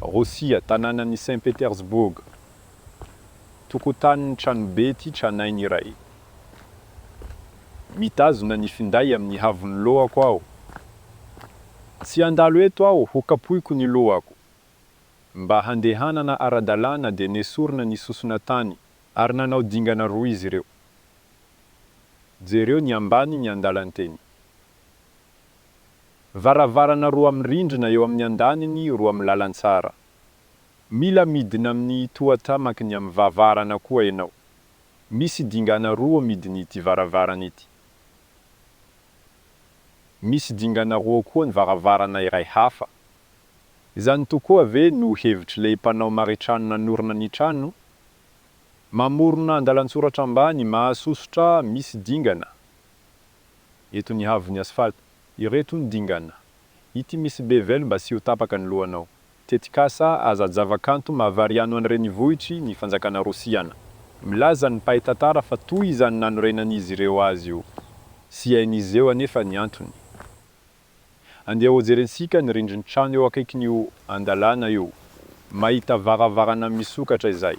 Rosia, tanànan'i Saint Petersburg, tokotanin'ny tranobe ity tranainy iray. Mitazona ny finday amin'ny haavon'ny lohako aho. Tsy handalo eto aho ho kapoiko ny lohako. Mba handehanana ara-dalàna dia nesorina ny sosona tany ary nanao dingana roa izy ireo. Jereo ny ambany ny andalan-teny. Varavarana roa amin'ny rindrina eo amin'ny andaniny roa amin'ny lalantsara. Mila midina amin'ny tohatra maky ny amin'ny vavarana koa ianao. Misy dingana roa midiny ity varavarana ity. Misy dingana roa koa ny varavarana iray hafa. Izany tokoa ve no hevitr'ilay mpanao maritrano nanorina ny trano? Mamorona andalan-tsoratra ambany mahasosotra misy dingana Eto ny haavon'ny asphalte. Ireto ny dingana. Ity misy bevel mba tsy ho tapaka ny lohanao. Tetikasa aza-javakanto mahavariano any renivohitry ny fanjakana rosiana. Milaza ny mpahay tantara fa toy izany nanorenan'izy ireo azy io. Tsy hain'izy eo anefa ny antony. Andeha hojerentsika ny rindrin-trano eo akaikin'io andalana io. Mahita varavarana misokatra izay.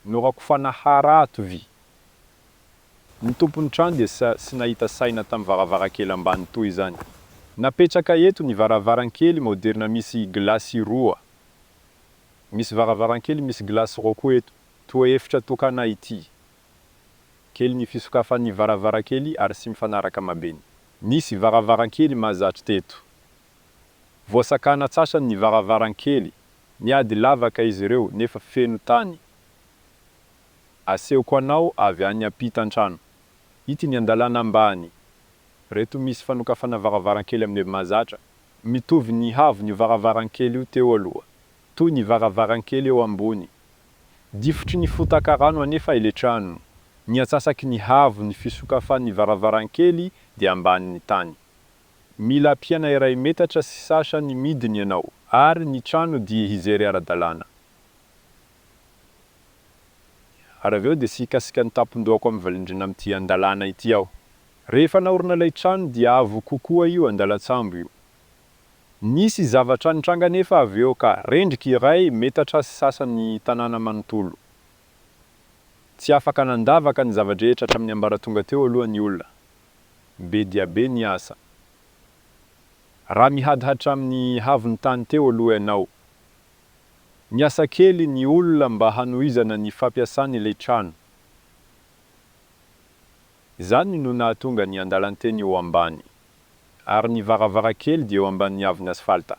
Norakofana hara ato vy. Ny tompon'ny trano dia tsy nahita saina tamin'ny varavarankely ambany toy izany. Napetraka eto ny varavarankely maoderina misy gilasy roa. Misy varavarankely misy gilasy roa koa eto. Toa efitra tokana ity. Kely ny fisokafan'ny varavarankely ary tsy mifanaraka mabeny. Nisy varavarankely mahazatra teto. Voasakana antsasany ny varavarankely. Niady lavaka izy ireo nefa feno tany. Asehoko anao avy any ampitan-trano. Ity ny andalana ambany. Reto misy fanokafana varavarankely amin'ny mahazatra. Mitovy ny haavony io varavarankely io teo aloha. Toy ny varavarankely eo ambony. Difotry ny fotaka rano anefa ilay trano. Ny atsasaky ny haavon'ny fisokafan'ny varavarankely dia ambanin'ny tany. Mila ampiana iray metatra sy sasany midiny ianao ary ny trano dia hijery ara-dalàna. Ary avy eo dia tsy hikasika ny tampon-dohako amin'ny valindrina amin'ity andalana ity aho. Rehefa naorina ilay trano dia avo kokoa io andalan-tsambo io. Nisy zavatra nitranga anefa avy eo ka, rendrika iray metatra sy sasany tanàna manontolo. Tsy afaka nandavaka ny zava-drehetra hatramin'ny ambaratonga teo aloha ny olona. Be dia be ny asa. Raha mihady hatramin'ny haavon'ny tany teo aloha ianao. Niasa kely ny olona mba hanohizana ny fampiasana ilay trano. Izany no nahatonga ny andalan-teny ho ambany, ary ny varavarankely dia eo ambanin'ny haavon'asphalta.